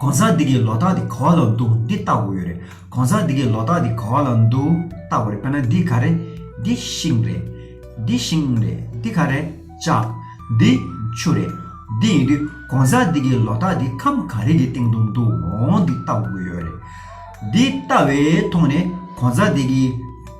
གང་ཟག་འདི་གའི་ལོ་རྟགས་འདི་ག་བ་ལ་འདུག་འདི་ལྟ་བུ་ཡོད་རེད། གང་ཟག་འདི་གའི་ལོ་རྟགས་འདི་ག་བ་ལ་འདུག་ལྟ་བུ་རེད་དཔེར་ན་འདི་ག་རེད། འདི་ཤིང་རེད། འདི་ཤིང་རེད། འདི་ག་རེད། ལྕགས། འདི། ཆུ་རེད། འདི་ཡིན་དུས་གང་ཟག་འདི་གའི་ལོ་རྟགས་འདི་ཁམས་ག་རེ་གི་སྟེང་དུ་འདུག་འོང་འདི་ལྟ་བུ་ཡོད་རེད། འདི་ལྟ་བས་མཐོང་ནས་གང་ཟག་འདི་གའི།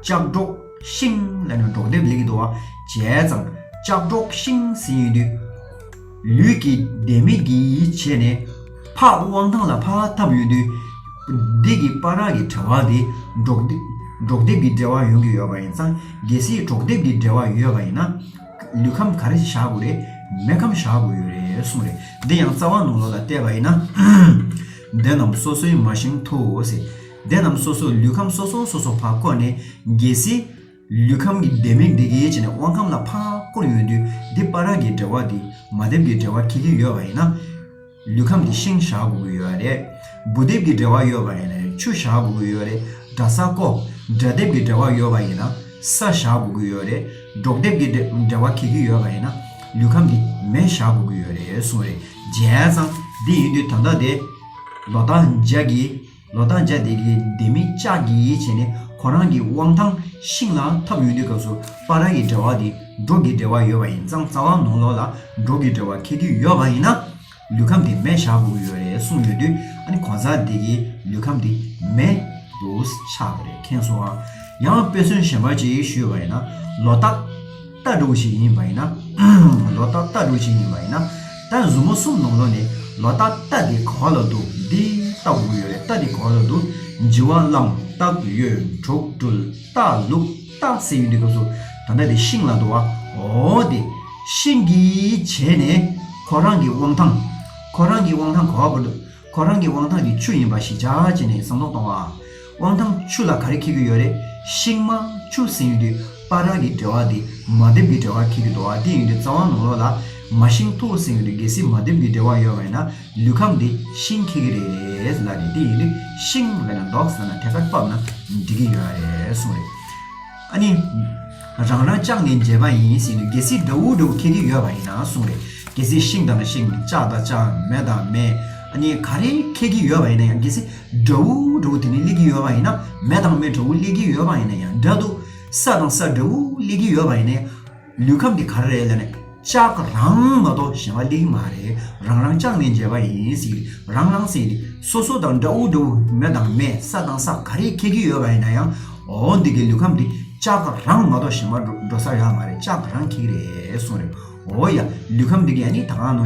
ལྕགས་སྒྲོག་ཤིང། ལས་ནི་སྒྲོག་འདེབས་ལས་ཀྱི་དུ་བ་བྱས་ཙང་ལྕགས་སྒྲོག་ཤིང་ཟིན་ཡོད་དུས། ལུས་ཀྱི་བདེ་མེད་ཀྱིས་བྱས་ནས་ཕག་དབང་ཐང་ལ་ཕག་འཐབ་ཡོད་དུས། བདེ་ཀྱི་དཔའ་རག་གི་དྲ་བ་དེ་སྒྲོག་འདེབས་ཀྱི་འབྲེལ་བ་ཡོང་གི་ཡོད་པ་ཡིན་ཙང་གལ་སྲིད་སྒྲོག་འདེབས་ཀྱི་འབྲེལ་བ་ཡོད་པ་ཡིན་ན། ལུས་ཁམས་ག་རེ་བཞག་དགོས་རེད་མེ་ཁམས་བཞག་དགོས་ཡོད་རེད་གསུངས་རེད། འདི་ཡང་རྩ་བ་ནང་ལོགས་ལ་བལྟས་པ་ཡིན་ན། འདི་རྣམས་སོ་སོའི་མ་ཞིང་དུ་ཟེར། སྡེ་རྣམས་སོ་སོས་ལུས་ཁམས་སོ་སོ་སོ་སོ་བར་བསྐོར་ནས་རྒྱལ་སྲིད། ལུས་ཁམས་ཀྱི་སྡེ་མི་འདི་གའི་ཕྱི་ནས་དབང་ཁམས་ལ་བར་བསྐོར་ཡོང་དུས་འདི་དཔའ་རག་གི་འབྲེལ་བ་འདི་མ་ལྡེབས་ཀྱི་འབྲེལ་བ་ཁྱི་ཁྱི་ཡོད་པ་ཡིན་ན། ལུས་ཁམས་འདི་ཤིང་བཞག་དགོས་ཀྱི་ཡོད་རེད། སྦུ་ལྡེབས་ཀྱི་འབྲེལ་བ་ཡོད་པ་ཡིན་ན་ཆུ་བཞག་དགོས་ཀྱི་ཡོད་རེད། དགྲ་ས་ཀོ། དགྲ་ལྡེབས་ཀྱི་འབྲེལ་བ་ཡོད་པ་ཡིན་ན་ས་བཞག་དགོས་ཀྱི་ཡོད་རེད། འབྲོག་ལྡེབས་ཀྱི་འབྲེལ་བ་ཁྱི་ཁྱི་ཡོད་པ་ཡིན་ན་ལུས་ཁམས་འདི་མེ་བཞག་དགོས་ཀྱི་ཡོད་རེད་གསུངས་རེད། བྱས་ཙང་འདི་ཡིན་དུས་ད་ལྟ་དེ། ལོ་རྟགས་འཇགས་ཀྱི། ལོ་ཐང་བརྒྱ་སྡེ་དགེའི་སྡེ་མི་ཅག་གིས་ཡིད་ཆེས་ནས་ཁོ་རང་གི་དབང་ཐང་ཤིང་ལ་འཐབ་ཡོད་དུས་སྐབས་སུ་པ་ར་གི་འབྲེལ་བ་དེ་འབྲོག་གི་འབྲེལ་བ་ཡོད་པ་ཡིན་ཙང་རྩ་བ་ནོར་ལོག་ལ་འབྲོག་གི་འབྲེལ་བ་འཁེལ་དུས་ཡོད་པ་ཡིན་ན་ལུས་ཁམས་དེ་མེ་བཞག་དགོས་ཀྱི་ཡོད་རེད་གསུངས་ཡོད་དུས་ཨ་ནི་གོང་ས་སྡེ་དགེའི་ལུས་ཁམས་དེ་མེ་དུ་ཆགས་ཀྱི་རེད་མཁྱེན་སོང་ཡང་དཔེ་མཚོན་གཞན་པ་ཅིག་ཞུས་པ་ཡིན་ན་ལོ་རྟགས། རྟ་དྲུག་ཞིག་ཡིན་པ་ཡིན་ན། ལོ་རྟ་རྟ་དྲུག་ཞིག་ཡིན་པ་ཡིན་ན། ད་གཟུ་མོ་གསུམ་ནང་ལོ་ནི་ལོ་རྟ་རྟ་དེ་ག་བ་ལ་འདུག་འདི་རྟ་དགུ་ཡོད་རེད་རྟ་དེ་ག་བ་ལ་འདུག་འཇི་བ་གླང་རྟ་གཡོན་དྲུག་སྤྲུལ་རྟ་ལུག་རྟ་ཟེར་ཡོད་འདི་སྐབས་སུ་ད་ལྟ་དེ་ཤིང་ལ་འདུག་བ་འོ་དེ་ཤིང་གིས་བྱས་ནས་ཁོ་རང་གི་དབང་ཐང་ཁོ་རང་གི་དབང་ཐང་ག་བ་བོར་འདུག། ཁོ་རང་གི་དབང་ཐང་གི་ཆུ་ཡིན་པ་ཞིག་བྱ་བྱེད་ནས་བསམ་བློ་གཏོང་བ། དབང་ཐང་ཆུ་ལ་ག་རེ་འཁེལ་གྱི་ཡོད་རེད། ཤིང་མ། ཆུ་ཟིན་ཡུལ་དུས་སྤར་རག་གི་འབྲེལ་བ་དེ། མ་དེབ་ཀྱི་འབྲེལ་བ་འཁེལ་གྱི་འདུག་བ་དེ་ཡིན་དུས་རྩ་བ་ནང་ལོགས་ལ། མ་ཤིང་མཐོ་བོ་ཟིན་ཡོད་དུས་གལ་སྲིད་མ་དེབ་ཀྱི་འབྲེལ་བ་ཡོད་པ་ཡིན་ན། ལུས་ཁམས་དེ་ཤིང་འཁེལ་གྱི་རེད་ལ་རེད་དེ་ཡིན་དུས་ཤིང་བས་ན་འདོགས་ཟེར་ན་ཐད་ཀར་བབས་ན་འགྲིག་གི་ཡོད་རེད་གསུངས་རེད། ཨ་ནི། རང་རང་ལྕགས་ནི་འདྲེས་པ་ཡིན་ཟེར་ནས་གལ་སྲིད་འདྲ་བོ་འདྲ་བོ་ཁྱེར་གྱི་ཡོད་པ་ཡིན་ན་གསུངས་རེད་གལ་སྲིད་ཤིང་དང་ཤིང་ལྕགས་དང་ལྕགས་མེ་དང་མེ་ཨ་ནི་ག་རེ་ཁྱེར་གྱི་ཡོད་པ་ཡིན་ན་ཡང་གལ་སྲིད་འདྲ་བོ་འདྲ་བོ་དེ་ནི་སླེབས་ཀྱི་ཡོད་པ་ཡིན་ན་མེ་དང་མེ་འདྲ་བོ་སླེབས་ཀྱི་ཡོད་པ་ཡིན་ན་ཡང་འདྲ་འདུག་ས་དང་ས་འདྲ་བོ་སླེབས་ཀྱི་ཡོད་པ་ཡིན་ན་ཡང། ལུས་ཁམས་འདི་ག་རེ་ལ་ནས་ལྕགས་རང་མ་གཏོགས་གཞན་པ་ལིག་མ་རེ་རང་རང་ལྕགས་ནས་མཇལ་བ་ཡིན་ཟིག་རང་རང་སེང་ལི་སོ་སོ་དང་འདྲ་འུ་འདྲ་འུ་མེ་དང་མེ་ས་དང་ས་ག་རེ་ཁྱེར་གྱི་ཡོད་པ་ཡིན་ན་ཡང་འོ་འདི་གའི་ལུས་ཁམས་འདི་ལྕགས་རང་མ་གཏོགས་གཞན་པ་འགྲོ་ས་ཡོད་མ་རེད་ལྕགས་རང་ཁྱེར་གྱི་རེད་གསུངས་རེད་འོ་ཡ་ལུས་ཁམས་འདི་ག་ནི་ད་གང་ནོ།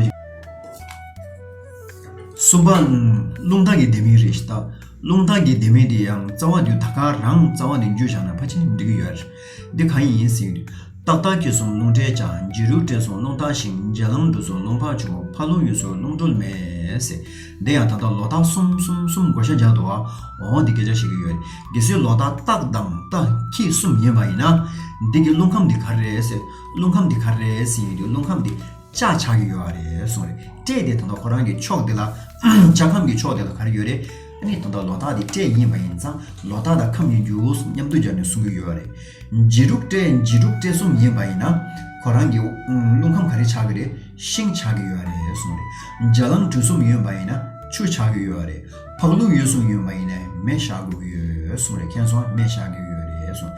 གསུམ་པ། རླུང་ཐག་གི་ལྡེ་མིག་རེད་ད་རླུང་ཐག་གི་ལྡེ་མིག་འདི་ཡང་རྩ་བ་དུས་ད་ག་རང་རྩ་བ་འདི་མཇུག་བཞག་ན་ཕ་ཆེན་འགྲིག་གི་ཡོད་རེད། འདི་གང་ཡིན་ཟིན། ཏག་ཏག་ཁྱི་སོང་རླུང་བྲལ་ཅང་མཇེ་རུ་བྲལ་སོང་རླུང་དྭངས་ཤིང་མཇལ་ལམ་འགྲུལ་སོང་རླུང་འཕངས་བྱུང་ཕར་རླུང་ཡུལ་སོར་རླུང་དཀྲོལ་མེད། འདི་ཡང་ད་ལྟ་ལོ་རྟགས་གསུམ་གསུམ་གསུམ་བགོ་བཤའ་འཇགས་འདུག་ཨ་འོ་འདི་སྐད་ཆ་བཤད་ཀྱི་ཡོད་དགེ་བསོའི་ལོ་རྟགས་སྟག་དང་རྟ་ཁྱི་གསུམ་ཡིན་པ་ཡིན་ན། འདི་གི་རླུང་ཁམས་འདི་ག་རེད་ཟེར་རླུང་ཁམས་འདི་ག་རེད་ཟིན་འདི་རླུང་ཁམས་འདི་ལྕགས་ཆགས་ཀྱི་ཡོད་རེད་གསུངས་རེད་སྤྲད་དེ་ད་ལྟ་ཁོ་རང་གི་ཕྱོགས་འདི་ལ་ལྕགས་ཁམས་ཀྱི་ཕྱོགས་འདི་ལ་ག་རེ་ཡོད་རེད། ངས་དོན་དག་ལོ་ཏཱ་དེ་སྤྲད་ཡིན་པ་ཡིན་ཙང་ལོ་ཏཱ་དང་ཁམས་གཉིས་འགྱུར་བཟུང་མཉམ་དུ་སྦྱར་ནས་གསུང་གི་ཡོད་རེད། འཇིགས་རུག་སྤྲད་འཇིགས་རུག་སྤྲད་གསུམ་ཡིན་པ་ཡིན་ན། ཁོ་རང་གིས་རླུང་ཁམས་ག་རེ་ཆགས་ཀྱི་རེད་ཤིང་ཆགས་ཀྱི་ཡོད་རེད་གསུང་རེད། འཇའ་ལང་གྲུ་གསུམ་ཡོད་པ་ཡིན་ན་ཆུ་ཆགས་ཀྱི་ཡོད་རེད། ཕག་ལུག་ཡོད་གསུམ་ཡོད་པ་ཡིན་ནས་མེ་བཞག་དགོས་ཀྱི་ཡོད་གསུང་རེད་མཁྱེན་སོང་མེ་བཞག་གི་ཡོད་རེད་གསུང།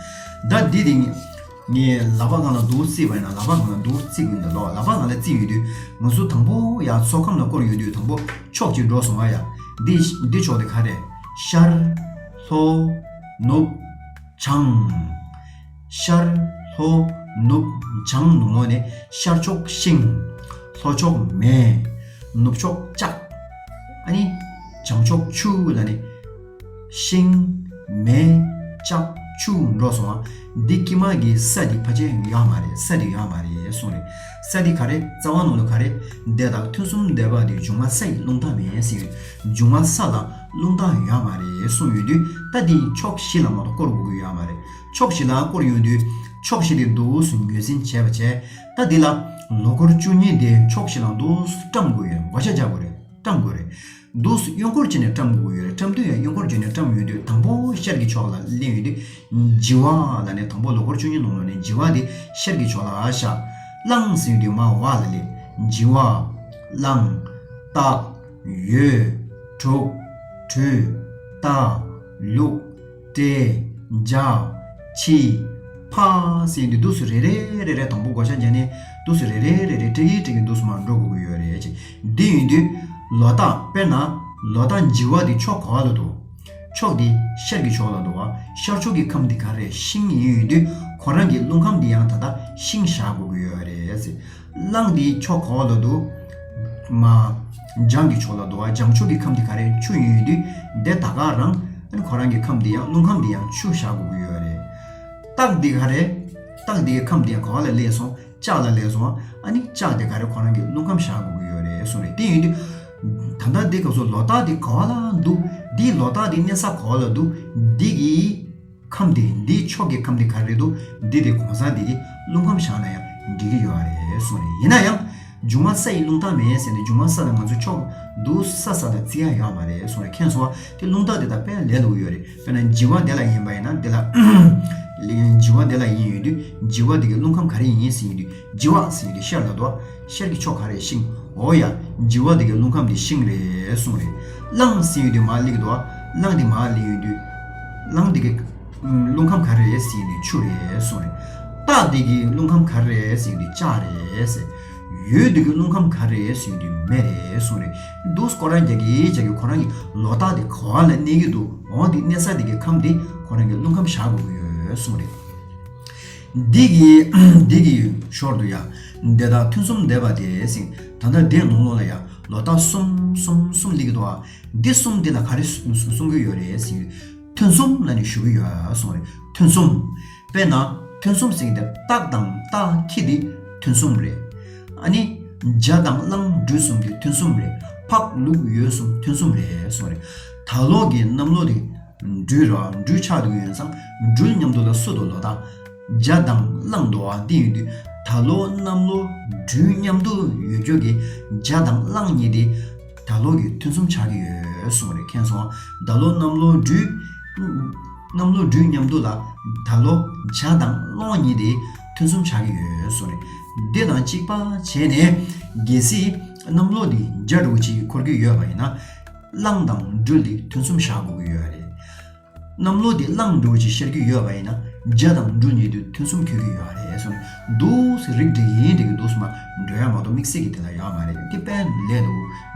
ཟླ་འདི་དེ། ངས་ལག་པ་ང་ལ་འདུག་བརྩིས་པ་ཡིན་ན་ལག་པ་ང་ལ་འདུག་བརྩི་གི་མི་འདུག་ལག་པ་ང་ལ་བརྩིས་ཡོད་དུས་ང་ཟུར་དང་པོ་ཡང་ཚོགས་ཁང་ལ་བསྐོར་ཡོད་དུས་དང་པོ་ཕྱོགས་གཅིག་འགྲོ་སོང་ཨ་ཡ། འདི་འདི་ཕྱོགས་དེ་ག་རེད། ཤར། ལྷོ། ནུབ། བྱང། ཤར། ལྷོ། ནུབ། བྱང་ནུབ་ངོགས་ནི་ཤར་ཕྱོགས་ཤིང། ལྷོ་ཕྱོགས་མེ། ནུབ་ཕྱོགས་ལྕགས། ཨ་ནི། བྱང་ཕྱོགས་ཆུ་ལ་ནི། ཤིང། མེ། ལྕགས། ཆུ། འགྲོ་སོང་བ། འདི་སྐྱིད་མ་གི་ས་འདི་ཕ་ཆེན་ཡོད་ཧ་མ་རེད་ས་འདི་ཡོད་ཧ་མ་རེད་གསུངས་རེད་ས་འདི་ག་རེད་རྩ་བ་ནང་དུ་ག་རེད་འདི་དག་མཐུན་གསུམ་བསྡད་པ་འདི་འབྱུང་མ་ས་ཡི་རླུང་རྟ་མེད་ཟིག་རེད་འབྱུང་མ་ས་ལ་རླུང་རྟ་ཡོད་ཧ་མ་རེད་གསུངས་ཡོད་དུས་ད་འདི་ཕྱོགས་བཞི་ལ་མ་གཏོགས་བསྐོར་དགོས་ཀྱི་ཡོད་ཧ་མ་རེད་ཕྱོགས་བཞི་ལ་བསྐོར་ཡོང་དུས་ཕྱོགས་བཞི་དེ་འདུག་སུ་ངོས་ཟིན་བྱས་པ་བྱས་ད་འདི་ལ་ལོ་འཁོར་བཅུ་གཉིས་དེ་ཕྱོགས་བཞི་ལ་འདུག་སུ་བཀྲམ་དགོས་ཡོད་མགོ་ཆ་རྒྱག་དགོས་རེད་བཀྲམ་དགོས་རེད། འདུག་སུས་གཡོན་སྐོར་བྱས་ནས་བཀྲམ་དགོས་ཡོད་རེད་བཀྲམ་དུས་ཡང་གཡོན་སྐོར་བྱས་ནས་བཀྲམ་ཡོད་དུས་དང་པོ་ཤར་གྱི་ཕྱོགས་ལ་གླན་ཡོད་དུས་ལྗི་བ་ལ་ནས་དང་པོ་ལོ་འཁོར་བཅུ་གཉིས་ནང་ལོ་ནས་ལྗི་བ་དེ་ཤར་གྱི་ཕྱོགས་ལ་ཤར། བླངས་ཟིན་ཡོད་དུས་མར་བ་ལ་ལས། ལྗི་བ། བླངས། བཏགས། ཡོད། དྲུག། བྲུས། བཏགས། ལུགས། སྤྲེལ། འཇག། ཕྱི། ཕ། སེ་འདི་འདུག་སུ་རེ་རེ་རེ་རེ་དང་པོ་བགོ་བཤའ་བྱས་ནས་འདུག་སུ་རེ་རེ་རེ་རེ་སྤྲེལ་གྱིས་སྤྲེལ་གྱིས་འདུག་སུ་མར་འགྲོ་དགོས་ཀྱི་ཡོད་རེད་ཅེས་འདི་ཡིན་དུས། ལོ་རྟགས་དཔེར་ན། ལོ་རྟགས་འཇིག་བ་འདི་ཕྱོགས་ག་ལ་འདུག། ཕྱོགས་འདི་ཤར་གྱི་ཕྱོགས་ལ་འདུག་བ་ཤར་ཕྱོགས་ཀྱི་ཁམས་འདི་ག་རེ་ཤིང་ཡིན་ཡོད་དུས་ཁོ་རང་གི་རླུང་ཁམས་འདི་ཡང་ད་ལྟ་ཤིང་བཞག་དགོས་ཀྱི་ཡོད་རེད། གླང་འདི་ཕྱོགས་ག་བ་ལ་འདུག། མ། འཇང་གི་ཕྱོགས་ལ་འདུག་ཨ་འཇང་ཕྱོགས་ཀྱི་ཁམས་འདི་ག་རེ་ཆུ་ཡོད་ཡོད་དུས་བདེ་ད་ག་རང་ཨ་ཁོ་རང་གི་ཁམས་འདི་ཡང་རླུང་ཁམས་འདི་ཡང་ཆུ་བཞག་དགོས་ཀྱི་ཡོད་རེད། སྟག་འདི་ག་རེ། སྟག་འདི་གི་ཁམས་འདི་ཡང་ག་བ་ལ་ལས་སོང་ལྕགས་ལ་ལས་སོང་ཨ་ནི་ལྕགས་འདི་ག་རེ་ཁོ་རང་གི་རླུང་ཁམས་བཞག་དགོས་ཀྱི་ཡོད་རེད་གསུངས་རེད་དེ་ཡོད་དུས། ད་ལྟ་འདི་སྐབས་སུ་ལོ་སྟག་འདི་ག་བ་ལ་འདུག་འདིས་ལོ་སྟག་འདི་གནས་ས་ག་བ་ལ་འདུག་འདི་གིས། ཁམས་དེ་འདིའི་ཕྱོགས་ཀྱི་ཁམས་དེ་ག་རེད་འདུག་འདི་དེ་གོང་ས་འདི་གི་རླུང་ཁམས་བཞག་ན་ཡང་འགྲིག་གི་ཡོད་རེད་གསུངས་རེད་ཡིན་ན་ཡང་འཇུ་མ་ས་ཡི་རླུང་རྟགས་མེད་ཟེར་ནས་འཇུ་མ་ས་དང་ང་ཚོའི་ཕྱོགས་འདུག་ས་ས་ལ་བརྩི་ཡ་ཡོད་མ་རེད་གསུངས་རེད་མཁན་ཟོ་བ་དེ་རླུང་རྟགས་དེ་དང་དཔེ་ལས་ལུགས་ཡོད་རེད་དཔེར་ན་འཇི་བ་དེ་ལ་ཡིན་པ་ཡིན་ན་དེ་ལ་འཇི་བ་དེ་ལ་ཡིན་ཡོད་དུས་འཇི་བ་དེ་གི་རླུང་ཁམས་ག་རེ་ཡིན་ཟེར་ཡོད་དུས་འཇི་བ་ཟེར་ཡོད་དུས་ཤར་ལ་དོ་ཤར་གྱི་ཕྱོགས་ག་རེད་ཤིང། འོ་ཡ། འཇིག་བ་འདི་གའི་རླུང་ཁམས་འདི་ཤིང་རེད་གསུངས་རེད། གླང་ཟིན་ཡུལ་འདི་མ་ལིག་དུ་ཨ། གླང་འདི་མ་ལིག་ཡུལ་འདི། གླང་འདི་གའི། རླུང་ཁམས་ག་རེད་ཟེར་ཡུལ་འདི་ཆུ་རེད་གསུངས་རེད། སྟག་འདི་གའི་རླུང་ཁམས་ག་རེད་ཟེར་ཡུལ་འདི་ལྕགས་རེད་ཟེར། ཡོས་འདི་གའི་རླུང་ཁམས་ག་རེད་ཟེར་ཡུལ་འདི་མེ་རེད་གསུངས་རེད། འདུག་ཁོ་རང་རྒྱག་གི་རྒྱག་གི་ཁོ་རང་གི་ལོ་རྟགས་འདི་ག་ལ་གནས་ཀྱི་འདུག་འོང་འདི་གནས་ས་འདི་གའི་ཁམས་འདི་ཁོ་རང་གི་རླུང་ཁམས་བཞག་དགོས་ཀྱི་ཡོད་གསུངས་རེད། འདི་གི་འདི་གི་ཞོར་དུ་ཡང་འདས་རྟགས་ཐུན་གསུམ་འདས་པ་དེ་སིང་ད་ནར་འདས་ནོངས་ལོ་ལ་ཡང་ལོ་རྟགས་གསུམ་གསུམ་གསུམ་འདི་གི་དོ་འདི་གསུམ་འདི་ལ་ག་རེ་གསུང་གི་ཡོད་རེད་སིང་ཐུན་གསུམ་ལ་ནི་ཞུ་གི་ཡོད་སོང་རེད་ཐུན་གསུམ་དཔེར་ན་ཐུན་གསུམ་སིང་འདིར་རྟགས་དང་རྟགས་ཁྱི་འདི་ཐུན་གསུམ་རེད་ཨ་ནི་འཇའ་དང་གླང་སྦྲུལ་གསུམ་འདི་ཐུན་གསུམ་རེད་འཕགས་ལུགས་ཡོད་གསུམ་ཐུན་གསུམ་རེད་སོང་རེད་ད་ལོག་གི་གནམ་ལོ་དེ། འབྲུའི་རོ་འབྲུ་ཆགས་དུག་ཡོན་བསང་སྦྲུལ་མཉམ་དུ་ལ་སོ་དུག་ལོ་ལྟ། འཇའ་མདངས་གླང་དུག་འོག་སྟེང་ཡོད་དུས་ད་ལོ་གནམ་ལོ་སྦྲུལ་མཉམ་དུ་ཡོད་སྐྱོར་གྱི་འཇའ་དང་གླང་གཉིས་དེ་ད་ལོ་གི་ཐུན་གསུམ་ཆགས་ཀྱི་ཡོད་གསུངས་རེ་མཁན་སོང་ད་ལོ་གནམ་ལོ་སྦྲུལ། གནམ་ལོ་སྦྲུལ་མཉམ་དུ་ལ་ད་ལོ་འཇའ་དང་གླང་གཉིས་དེ་ཐུན་གསུམ་ཆགས་ཀྱི་ཡོད་གསུངས་རེ་འདི་དང་གཅིག་པ་བྱས་ནས། གལ་སྲིད་གནམ་ལོ་འདི་འཇའ་དྲུག་ཅིག་འཁོར་གྱི་ཡོད་པ་ཡིན་ན། བླངས་དང་འགྲུལ་དེ་དུས་མཚུངས་བཞག་དགོས་ཀྱི་ཡོད་རེད། གནམ་ལོ་དེ་བླངས་འགྲུལ་གྱིས་ཤར་གྱི་ཡོད་པ་ཡིན་ན་རྒྱ་དང་འགྲུལ་གཉིས་དུས་མཚུངས་འཁྱོལ་གྱི་ཡོད་རེད་གསུངས་འདུག་སེ་རིག་འགྲིག་ཡིན་འགྲིག་གི་འདུག་སུ་མ་འགྲོ་ཡག་མ་གཏོགས་དམིགས་བསལ་གྱི་དེ་ལ་ཡག་མ་རེད་དེ་དཔལ་ལས་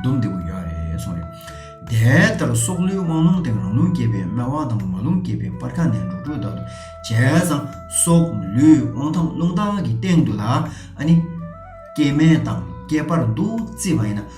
དུ་བསྡོམས་བདེ་པོ་ཡོད་རེད་གསུངས་རེད། དེ་ལྟར་སྲོག་ལུས་དབང་ལུང་སྟེང་རང་ལུང་བསྐྱེད་པའི་སྨད་དབང་དང་མ་ལུང་བསྐྱེད་པའི་སྤར་ཁ་ནས་འབྲུག་སྤྲུལ་དག་ཏུ་བྱས་ཙང་སྲོག་ལུས་དབང་ཐང་ལུང་དག་གི་སྟེང་དུ་ལ་ཨ་ནི་སྐྱེ་སྨན་དང་སྐྱེ་སྤར་འདུག་རྩིས་པ་ཡིན་ན།